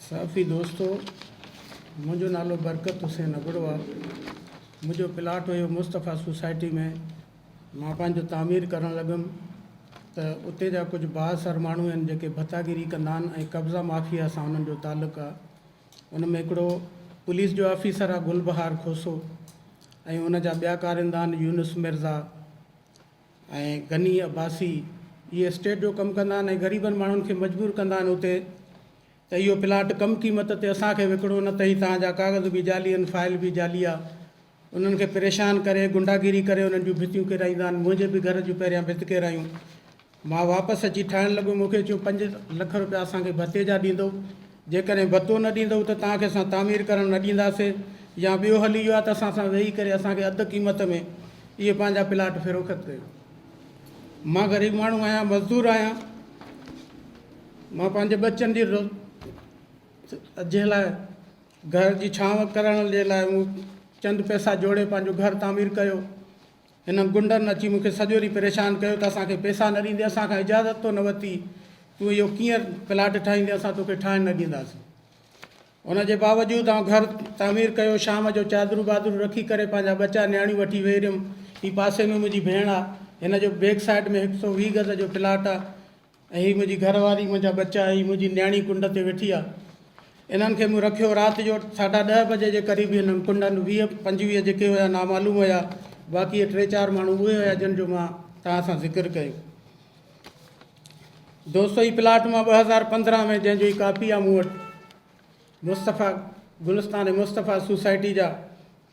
صحافي دوستو! منهنجو نالو برڪت حسين ابڙو آ. منهنجو پلاٽ هيو مصطفيٰ سوسائٽي ۾. مان پنهنجو تعمير ڪرڻ لڳم ته اتي جا ڪجهه بااثر ماڻهو آهن جيڪي ڀتاگيري ڪندا آهن ۽ قبضا مافيا سان انهن جو تعلق آ. ان ۾ هڪڙو پوليس جو آفيسر آ گل بهار کوسو ۽ ان جا ٻيا ڪارندا آهن يونس مرزا، ۽ غني عباسي اهي اسٽيٽ جو ڪم ڪندا آهن ۽ غريبن ماڻهن کي مجبور ڪندا آهن اتي ته اهو پلاٽ ڪم قيمت تي اسان کي وڪڻو نه ته هي توهان جا ڪاغذ به جعلي آهن فائل به جعلي آ انهن کي پريشان ڪري غنڊاگيري ڪري انهن جون ڀتيون ڪيرائيندا آهن منهنجي به گهر جون پهريان ڀت ڪيرايون مان واپس اچي ٺاهڻ لڳو مون کي چيو پنج لک روپيا اسان کي ڀتي جا ڏيندو جيڪڏهن ڀتو نه ڏيندؤ ته توهان کي اسان تعمير ڪرڻ نه ڏينداسي يا ٻيو حل اهو آهي ته اسان سان ويهي ڪري اسان کي اڌ قيمت ۾ اهي پنهنجا پلاٽ فروخت ڪيو. مان غريب ماڻهو آهيان، مزدور آهيان، مان پنهنجي ٻچن جي جي لاء گهر جي ڇانو ڪرڻ جي لاء مون چند پئسا جوڙي پنهنجو گهر تعمير ڪيو. هنن غنڊن اچي مون کي سڄو ڏينهن پريشان ڪيو ته اسان کي پئسا نه ڏيندين، اسان کان اجازت تو نه ورتي، تون اهو ڪيئن پلاٽ ٺاهيندين، اسان توکي ٺاهڻ نه ڏينداسين. ان جي باوجود آئون گهر تعمير ڪيو، شام جو چادرون بادرون رکي ڪري پنهنجا ٻچا نياڻيون وٺي ويهي رهيم. هي پاسي ۾ منهنجي ڀيڻ آ، هن جو بيڪ سائيڊ ۾ هڪ سؤ ويهه گز جو پلاٽ آ، ۽ هي منهنجي گهر واري، منهنجا ٻچا ۽ منهنجي نياڻي ڪنڊ تي ويٺي آ. انهن کي مون رکيو. رات جو ساڍا ڏهه بجي جي قريب انهن ڪنڊن، ويهه پنجويهه جيڪي هيا نامعلوم هيا، باقي اهي ٽي چار ماڻهو اهي هيا جن جو مان توهان سان ذڪر ڪيو. دوستو هي پلاٽ مان ٻه هزار پندرهن ۾ جنهن جو هي ڪاپي آ مون وٽ مصطفيٰ گلستان مصطفيٰ سوسائٽي جا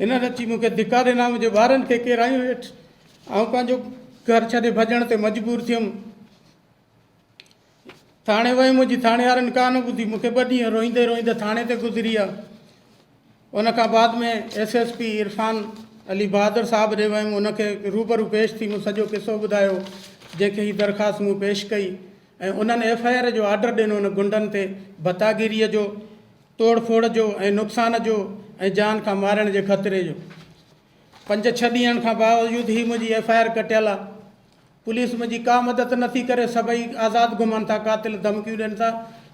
هنن اچي مون کي ڌڪا ڏنا، منهنجي ٻارن کي ڪيرايو هيٺ، آئون پنهنجو گهر ڇڏي ڀڄڻ تي مجبور ٿيم. ٿاڻي ويم، منهنجي ٿاڻيوارن ڪا نه ٻڌي، مون کي ٻه ڏينهن روئيندي روئيندي ٿاڻي تي گذريا. ان کان بعد ۾ S S P Irfan Ali Bahadur صاحب ڏي ويم، ان کي روبرو پيش ٿي مون سڄو قصو ٻڌايو، جنهن کي هي درخواست مون پيش ڪئي ۽ انهن ايف آء آر جو آرڊر ڏنو ان غنڊن تي ڀتاگيريء جو توڙ ڦوڙ جو ۽ نقصان جو ۽ جان کان مارڻ جي خطري جو پنج ڇهه ڏينهن کان باوجود هي منهنجي ايف آء آر ڪٽيل آ پوليس منهنجي ڪا مدد نٿي ڪري سڀئي آزاد گهمن ٿا قاتل ڌمڪيون ڏين ٿا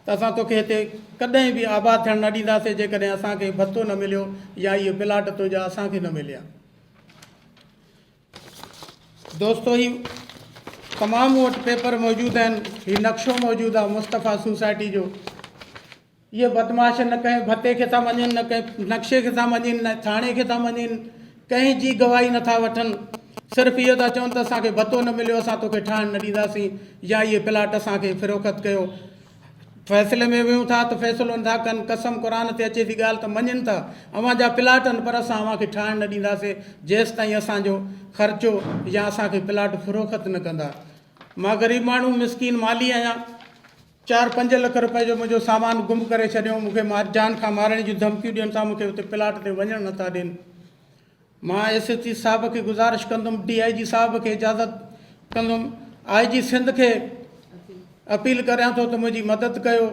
ته اسان توکي هتي ڪڏهن به آباد ٿيڻ نه ڏينداسي جيڪڏهن اسان کي ڀتو نه مليو يا اهي پلاٽ تنهنجا اسان کي نه مليا دوستو هي تمام وٽ پيپر موجود آهن هي نقشو موجود آ مصطفيٰ سوسائٽي جو اهي بدمعاش نه ڪنهن ڀتي کي ٿا مڃين نه ڪنهن نقشي کي ٿا مڃين نه ٿاڻي کي ٿا مڃين ڪنهن جي گواهي نه ٿا وٺن صرف اهو ٿا چون ته اسان کي ڀتو نه مليو اسان توکي ٺاهڻ نه ڏينداسين يا اهي پلاٽ اسان کي فروخت ڪيو فيصلي ۾ ويهون ٿا ته فيصلو نه ٿا ڪن قسم قرآن تي اچي ٿي ڳالهه ته مڃين ٿا اوهان جا پلاٽ آهن پر اسان اوهان کي ٺاهڻ نه ڏينداسين جيستائين اسان جو خرچو يا اسان کي پلاٽ فروخت نه ڪندا مان غريب ماڻهو مسڪين مالي آهيان چار پنج لک روپئي جو منهنجو سامان گم ڪري ڇڏيو، مون کي جان کان مارڻ جون ڌمڪيون ڏين ٿا، مون کي اتي پلاٽ تي وڃڻ نٿا ڏين. مان ايس ايس پي صاحب کي گذارش ڪندم، ڊي آء جي صاحب کي اجازت ڪندم، آء جي سنڌ کي اپيل ڪريان ٿو ته منهنجي مدد ڪيو،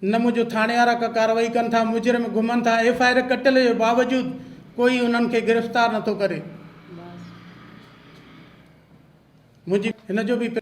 نه منهنجو ٿاڻيوارا ڪا ڪارروائي ڪن ٿا، مجرم گهمن ٿا، ايف آء آر ڪٽل جي باوجود ڪوئي انهن کي گرفتار نٿو ڪري. منهنجي هن جو به